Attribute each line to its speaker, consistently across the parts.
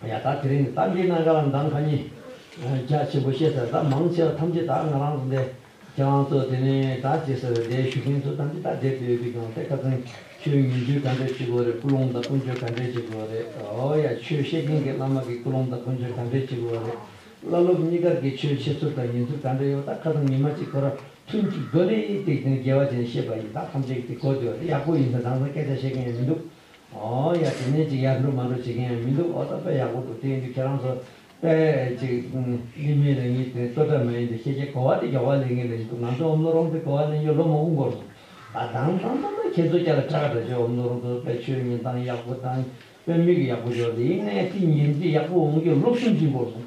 Speaker 1: ཡ་ད་དེ་རིང་གཏམ་གྱི་གནང་ག་ལ་འདང་ག་ཉི། རྒྱ་ཆེན་པོ་བཤད་ཟེར་ད་མང་ཆེ་བ་ཐམས་ཅད་ད་ང་རང་ཚོ་འདས། ཁྱེད་རང་ཚོ་དེ་ནས་ད་ཅི་ཟེར་འདས་ཞུ་མཁན་ཚོ་ཐམས་ཅད་ད་འདས་བོད་ཀྱི་གང་ལྟས་ཁ་ཚང་ཁྱོད་ཉིན་རྒྱུན་ག་འདྲས་བྱེད་དགོས་རེད་ཀུན་སློང་དང་ཀུན་སྤྱོད་ག་འདྲས་བྱེད་དགོས་རེད་ཨོ་ཡ་ཆོས་བཤད་མཁན་གྱི་བླ་མ་གྱི་ཀུན་སློང་དང་ཀུན་སྤྱོད་ག་འདྲས་བྱེད་དགོས་རེད་བླ་སློབ་གཉིས་ཀར་གྱི་ཆོས་འཆད་ཚུལ་དང་ཉན་ཚུལ་ག་འདྲས་ཡོད་ད་ཁ་ཚང་ཉི་མ་གཅིག་ཁོ་ར་ཐུན་གཅིག་རྡོ་ལེ་ཏིག་ཏིང་རྒྱལ་བ་ཅན་བཤད་པ་ཡིན་ད་ཐམས་ཅད་ཀྱི་དེ་གོ་བདེ་བ་རེད་ཡག་པོ་ཡིན་ཟེར་རང་ཚང་སྐད་ཆ་བཤད་མཁན་ཡང་མི་འདུག། ཨོ་ཡ་དེ་ནས་ཅིག་ཡར་འགྲོ་མར་འགྲོ་བྱེད་མཁན་ཡང་མི་འདུག་ཨོ་ད་པས་ཡག་པོ་འདུག་དེ་ཡིན་དུས་ཁྱེད་རང་ཚོ་དཔེ་ཅིག་གླིང་མའི་ལས་ཉིན་དེ་ཙོ་སྒྲ་མ་ཡིན་དུས་ཤེས་བྱའི་གོ་བ་དེ་མགྱོགས་པ་ལེན་མཁན་ལས་ཅིག་འདུག་ང་ཚོ་འོམ་ལོ་རོང་དེ་གོ་བ་ལེན་རྒྱུར་ལོ་མང་པོ་འགོར་སོང། ད་དང་ཐང་ཐང་ཐང་ཁྱེད་ཚོ་སྐྱ་ལ་གྲགས་གྲགས་བྱས་འོམ་ལོ་རོང་དུ་དཔེ་ཆོས་ཉིན་ཐང་ཡག་པོ་དང་དཔེ་མིག་ཡག་པོ་འབྱོར་དེ་ཡིན་ནས་དེ་ཉིན་དེ་ཡག་པོ་འོང་རྒྱུར་ལོ་གསུམ་གཅིག་འགོར་སོང།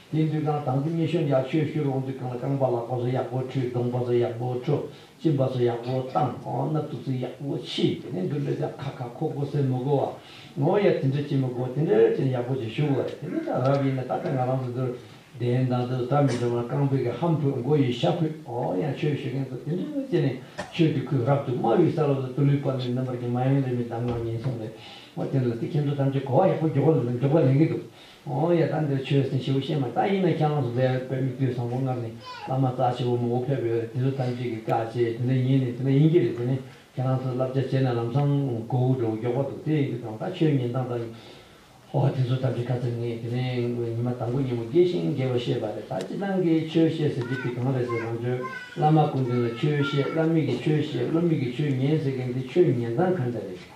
Speaker 1: དེའི་འདུལ་ཁང་དང་དུ་མི་ཤོང་ཡག་ཤོས་ཤོས་རོང་འདུལ་ཁང་ལ་རྐང་པ་ལག་པ་སོ་ཡག་པོ་འཁྲུད་གདོང་པ་སོ་ཡག་པོ་འཁྲུ་གཅིན་པ་སོ་ཡག་པོ་བཏང་སྣབས་དུག་རྩི་ཡག་པོ་ཕྱིས་དེ་ནས་འདུལ་ལོས་ཀྱང་ཁ་ཁ་ཁོ་ཁོ་ཟེར་མི་གོ་བ་ངོ་ཡ་དེ་འདྲ་བྱེད་མི་གོ་དེ་འདྲ་བྱས་ན་ཡག་པོ་ཅིག་ཞུགས་གོ་རེད་དེ་འདྲ་རབ་ཡིན་ན་ད་ལྟ་ང་རང་ཚོ་འདིར་བསྡད་ཡོད་མདང་དུ་ད་མི་འགྲོ་ན་རྐང་སྤོལ་གྱི་ཧམ་ཕོད་མགོ་ཡི་ཤ་ཕོད་ཨོ་ཡང་ཆོས་ཞུ་མཁན་ཚོ་དེ་འདྲ་བྱས་ནས་ཆོས་དུས་ཁོས་རབ་ཏུ་སྨྲ་བའི་ས་རབ་ཏུ་དུ་ལུས་པ་ནས་རྣམ་པར་གྱི་མ་ཡོང་རེ་མི་གདམ་ངག་ཉིན་གསུམ་རེ་ངོ་དེ་འདྲ་ལ་དེ་ཁྱེད་ཚོ་ཐམས་ཅད་གོ་བ་ཡག་པོ་འཇོག་པ་ལེན་གྱི་འདུག། ཨོང་ཡ་ད་འདིར་ཆོས་ཟིན་ཤེའུ་ཤེ་མ་ད་ཡིན་ན་ཁྱེད་རང་སུ་ཟེར་ཡ་བོད་མི་བརྒྱུད་བཟང་པོ་སྔར་ནས་བླ་མ་རྩ་ཆེ་བོ་མང་པོ་ཕེབས་ཡོད་རེད་དེ་ཚོ་ཐམས་ཅད་ཀྱི་བཀའ་ཆད་དེ་འདྲ་ཡིན་ནི་དེ་འདྲ་ཡིན་གྱི་རེད་དེ་ནས་ཁྱེད་རང་ཚོས་བསླབ་བྱ་བྱས་ན་ལམ་སང་མགོ་བོ་འགྲོ་བོ་མགྱོགས་པ་འདུག་དེ་ཡིན་གྱི་དང་ད་ཆོས་ཉིན་དང་ད་ཡིན་ཧོ་དེ་ཚོ་ཐམས་ཅད་བཀའ་ཚད་ངས་དེ་ནས་ཉི་མ་དང་པོ་ཉིན་མོ་དགེ་ཞིང་དགེ་བ་ཤེས་པ་རེད་ད་སྤྱི་དང་གི་ཆོས་བཤད་ཟེར་གྱི་དེ་གང་རེད་ཟེར་རང་ཆོས་བླ་མ་སྐུ་མདུན་ལ་ཆོས་བཤད་བླ་མེད་ཀྱི་ཆོས་བཤད་བློ་མེད་ཀྱི་ཆོས་ཉན་ཟེར་གྱི་འདི་ཆོས་ཉན་སྟངས་ག་འདྲ་རེད།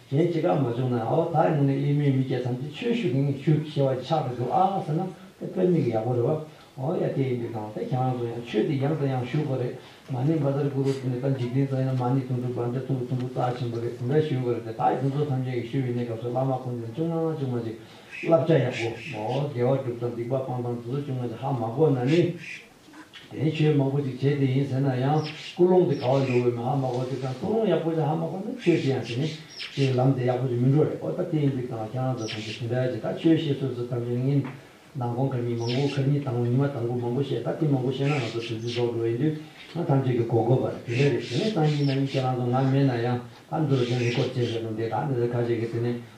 Speaker 1: གཞན་ཅི་གང་མ་བྱུང་ན་ཨོ་ད་ནི་ནི་དབྱིན་མོའི་མི་སྐྱ་ཐམས་ཅད་ཆོས་ཞུ་གིན་ཞུ་ཞེས་བ་ཅི་ཆགས་ཀྱི་འདུག་ཨ་ཟེར་ན་དེ་དཔེར་མིག་ཡག་པོ་རེད་བ། ཨོ་ཡ་དེ་ཡིན་དུས་དང་དེ་གང་རང་ཚོ་ཡང་ཆོས་དེ་ཡང་དང་ཡང་ཞུ་དགོས་རེད་མ་ནི་འབའ་ཟར་གུ་རུ་དེ་ནི་ད་འཇིག་རྟེན་ཚོ་ཡིན་ན་མ་ནི་དུང་ཕྲུག་འབའ་འདྲ་ཐུམ་བུ་ཐུམ་བུ་རྩ་ཆེན་པོ་རེད་དེ་འདྲ་ཞུ་དགོས་རེད་དེ་དག་གིན་ཚོ་ཐམས་ཅད་ཀྱི་ཞུ་བའི་གནས་སྐབས་སུ་བླ་མ་ཁོང་དེ་ནི་ཅུང་མ་མ་ཅུང་མ་ཅིག་བསླབ་བྱ་ཡག་པོ། ཨོ་དགེ་བ་སྒྲུབ་དང་སྡིག་པ་སྤང་དང་དེ་ཚོ་ཅུང་མ་ཅིག་ཧ་མ་གོ་ན་ནི། དེའི་ཆོས་མང་པོ་ཅིག་བྱེད་དེ་ཡིན་ཟེར་ན་ཡང་ཀུན་སློང་དེ་ག་བ་འགྲོ་འོས་མིན་ཧ་མ་གོ་དེ་དང་ཀུན་སློང་ཡག་པོ་ཅིག་ཧ་མ་གོ་ན་ཆོས་ཅི་ཡང་བྱེད་མི་ཤེས་ལམ་དེ་ཡག་པོ་ཅིག་མི་འགྲོ་རེད་ཨོ་ད་དེ་ཡིན་དུས་ཀྱང་ཁྱེད་རང་ཚོ་ཐམས་ཅད་དེ་འདྲ་ཅིག་ད་ཆོས་བཤད་སྲོལ་ཚོ་ཐམས་ཅད་ནི་ངན། ནང་དགོང་ཁར་མི་མང་པོ་ཁར་མྱི་དང་པོ་ཉི་མ་དང་པོ་མང་པོ་བཤད་ད་དེ་མང་པོ་བཤད་ན་ང་ཚོ་དོན་ཚིག་རྫོགས་འགྲོ་བ་ཡིན་དུས་ང་ཐམས་ཅད་ཀྱི་གོ་དགོས་པ་རེད་དེ་འདྲ་རེད་དེ་ནས་སང་ཉིན་མ་ཉིན་ཁྱེད་རང་ཚོ་ང་མེད་ན་ཡང་ད་འདི་རུ་དེ་འདི་སྐོར་བྱེད་ཟེར་ན་འདི་ད་ནི་རེད་ཁ་ཆེ་གི་དེ་ནས་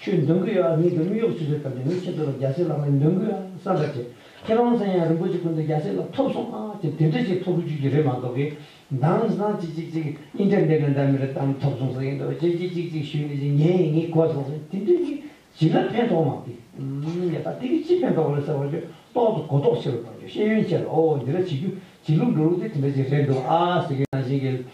Speaker 1: ཆུའི་འདོན་སྐུལ་ཡང་ཉིད་དུ་དམིགས་ཡོག་ཆུ་ཚོད་བཏབ་ནས་ནི་ཆེ་མཐོ་བའི་རྒྱ་སེ་ལ་མའི་འདོན་སྐུལ་ཡང་བསམ་པར་བྱས། ཁྱེད་རང་ཚང་ཡང་རིན་པོ་ཆེ་སྐུ་མདོག་རྒྱ་སེ་ལ་ཐོབ་སོང་ཨ་ཅེ་དེ་འདྲ་ཞིག་ཐོབ་རུ་ཆུ་རྒྱུ་རེད་མ་གཏོགས་གི། འདང་སང་ཅི་ཅིག་ཅིག་ཨིན་ཏེར་ནེད་ལ་འདང་མི་རེད་དམ་ཐོབ་སོང་ཟེར་གྱི་འདུག་ཅེ་ཅེ་ཅིག་ཅིག་ཞུས་ནས་ཅིག་ཉན་ཡིན་ངེས་གོ་སོང་ཟེར་དེ་འདྲ་ཞིག་བྱིན་ན་ཕན་ཐོག་མ་གིའམ་ཡ་ད་དེ་གིས་ཅི་ཕན་ཐོག་རེད་ཟེར་བ་ཆོས་ཏོག་ཏུ་གོ་རྟོགས་ཆེ་བའི་བར་གྱི་ཤེས་ཡོན་ཆེ་ལ་ཨོ་འདི་འདྲ་བྱེད་རྒྱུ་བྱེད་ལུགས་འགྲོ་ལུགས་དེ་དེ་འདྲ་ཞིག་རེད་འདུག་ཨ་ཟེར་གྱི་ནང་བཞིན་གྱི།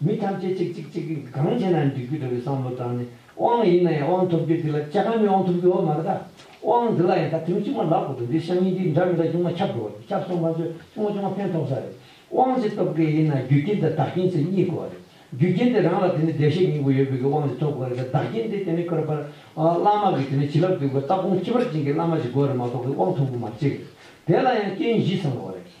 Speaker 1: མི་ཐམས་ཅད་ཅིག་ཅིག་ཅིག་གིས་གང་བྱས་ན་ཡང་འགྲིག་རྒྱུ་འདྲ་བའི་བསམ་བློ་དྲངས་ནས་དབང་ཡིན་ན་ཡང་དབང་ཐོབ་རྒྱུ་འདི་ལ་ཅི་གང་མི་དབང་ཐོབ་རྒྱུ་འོ་མ་རེད་ད། དབང་འདི་ལ་ཡང་ད་ཐེངས་ཅིག་མ་ལག་པོ་དང་འདིའི་ཤངས་ཡིག་འདི་འདྲ་མི་འདྲ་ཅུང་མ་ཁྱབ་འགྲོ་བ་རེད་ཁྱབ་སོང་ང་ཚོས་ཅུང་མ་ཅུང་མ་ཕན་ཐོགས་ས་རེད། དབང་ཞིག་ཐོབ་མཁན་ཡིན་ན་རྒྱུ་རྐྱེན་དང་བདག་རྐྱེན་ཚེ་གཉིས་དགོས་བ་རེད། རྒྱུ་རྐྱེན་དེ་རང་ལ་དེ་ནས་བདེ་གཤེགས་སྙིང་པོ་ཡོད་པའི་གི་དབང་ཞིག་ཐོབ་དགོས་རེད་ད་བདག་རྐྱེན་དེ་དེ་ནས་ཁོ་ར་པར་བླ་མ་གི་དེ་ནས་བྱིན་རླབས་སྟེར་དགོས་སྟབས་ཁོང་ཁྱི་པར་བྱིན་གི་བླ་མ་ཞིག་དགོས་རེད་མ་གཏོགས་གི་དབང་ཐོབ་དགོས་མ་བྱེད་རེད། དེ་ལ་ཡང་རྐྱེན་བཞི་ཚང་དགོས་རེད།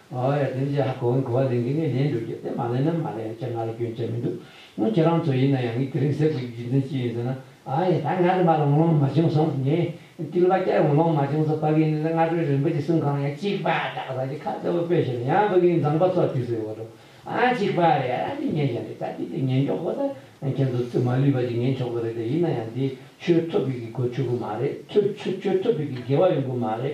Speaker 1: ཨོ་ཡ་དེ་འདྲའི་ཧ་གོ་བའི་གོ་བ་ལེན་གི་ངས་ལེན་འགྲོ་རྒྱུ་དེ་མ་ལེན་ན་མ་ལེན་ཅེས་ང་ལ་སྐྱོན་ཆ་མི་འདུག་སྔོན་ཁྱེད་རང་ཚོ་ཡིན་ན་ཡང་ངས་དེ་རིང་ཟེར་དགོས་ཀྱི་རྒྱུ་མཚན་ཅི་ཡིན་ཟེར་ན། ཨ་ཡ་ད་ང་རིན་པ་ལ་ངོ་ལོང་མ་བྱུང་སོང་ངས་ཏིལ་བ་སྐྱར་ངོ་ལོང་མ་བྱུང་སོང་ཕ་གིའི་ནི་ལ་སྔ་དྲོའི་རིན་པོ་ཆེ་གསུམ་གང་ཡང་གཅིག་པ་བྲག་ས་ཀྱི་ཁ་གཙོ་བོ་སྤོས་ཤིང་ཡང་ཕ་གིའི་མཛངས་པ་ཚོགས་བཅུག་སའི་འོག་ཏུ་ཨང་གཅིག་པ་རེད་ཨ་འདི་ངས་བཞག་འདི་ད་འདི་དེ་ངས་འཇོག་གོ་ད་ཁྱེད་ཚོ་རྩིབ་མ་ལུས་པ་ཅིག་ངས་འཆོག་གི་རེད་དེ་ཡིན་ན་ཡང་འདི་ཁྱོད་ཐོབ་ཕིག་གི་སྒོ་ཆོད་གི་མ་རེད་ཁྱོད་ཁྱོད་ཁྱོད་ཐོབ་ཕིག་གི་དགེ་བ་ཡོང་གི་མ་རེད་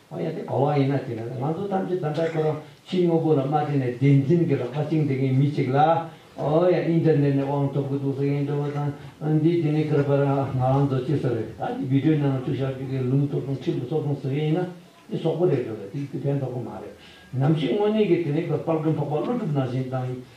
Speaker 1: ཨ་ཡ་དེ་ག་བ་ཡིན་ན་བྱས་ན་ང་ཚོ་ཐམས་ཅད་ད་ལྟ་ཁོ་རང་ཕྱི་དངོས་པོ་ལ་མ་བརྟེན་ནས་བདེན་འཛིན་གྱི་རགས་པ་བཅིངས་བསྡད་མཁན་མི་ཞིག་ལ་ཨོ་ཡ་ཨིན་ཏེར་ནེར་ནས་དབང་ཐོབ་གི་འདུག་ཟེར་མཁན་འདྲ་བོ་དང་འདི་དེ་ནས་ཁར་པར་ང་རང་ཚོ་ཅི་ཟེར་རེད་ད་འདི་བིད་དྲོའི་ནང་ལ་བཅུག་བཞག་རྒྱུ་གས་ལུང་ཐོབ་སོང་ཁྲིམས་ལ་སོགས་སོང་ཟེར་མཁན་ཡིན་ན་འདི་ཟོག་པོ་རེད་འགྲོ་རེད་འདི་ཕན་ཐོག་པོ་མ་རེད་ནམ་ཞིག་དངོས་གནས་ཀྱི་དེ་ནས་ཁར་པར་རྒན་ཕག་པ་ཀླུ་སྒྲུབ་ནང་བཞིན་དང།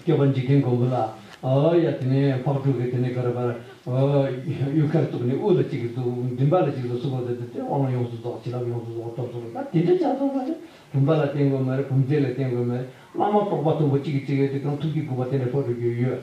Speaker 1: སྐྱོབ་པར་འཇིག་རྟེན་མགོན་པོ་ལ། ཨོ་ཡ་དེ་ནས་ཕག་ཕྲུག་གིས་དེ་ནས་ག་རེ་བར། གཡུལ་ཁར་གཏུགས་ནས་དབུ་ལ་གཅིག་གིས་གཏུགས། མགྲིན་པ་ལ་གཅིག་གིས་གསུབ་བོ་དེ་ལྟར་དབང་ཡོངས་སུ་རྫོགས་བྱིན་རླབས་ཡོངས་སུ་རྫོགས་སྟོབས་སུ་རུ་དང་དེ་འདྲ་ཆགས་སོང་བ་ལས་བུམ་པ་ལ་བརྟེན་དགོས་མ་རེད་བུམ་རྫས་ལ་བརྟེན་དགོས་མ་རེད་བླ་མ་རྟོགས་པ་མཐོན་པོ་གཅིག་གིས་གཅིག་གཡོལ་ཏེ་གང་ཐུབ་ཀྱིས་སྒུག་པ་དེ་འདྲ་ཕོད་དུ་གྱུར་ཡོད།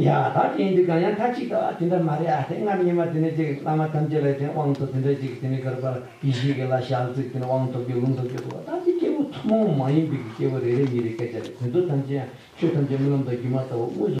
Speaker 1: ཡ། ད་ཁྱེད་འདི་གང་ཡང་ཁ་ཅིག་ལྟ་བ་དེ་འདྲ་མ་རེད་ཨ་དེ་སྔར་ཉི་མ་དེ་ནས་ཅིག་བླ་མ་ཐམས་ཅད་ལས་དེ་དབང་ཐོབ་དེ་འདྲ་ཅིག་དེ་ནས་གར་པར་གྱི་གཞིས་ཀྱི་ལ་ཞག་བརྩིགས་དེ་ནས་དབང་ཐོབ་ཀྱི་ལུང་ཐོབ་ཀྱི་འདུག་བ་ད་འདི་སྐྱེ་བོ་ཐུན་མོང་མ་ཡིན་པའི་གི་སྐྱེ་བོ་རེ་རེ་མི་རེ་སྐད་ཆ་རེ་དོན་དུ་ཐམས་ཅད་ཡང་ཆོས་ཐམས་ཅད་རྨི་ལམ་དང་སྒྱུ་མ་ལྟ་བུ་དངོས་སུ།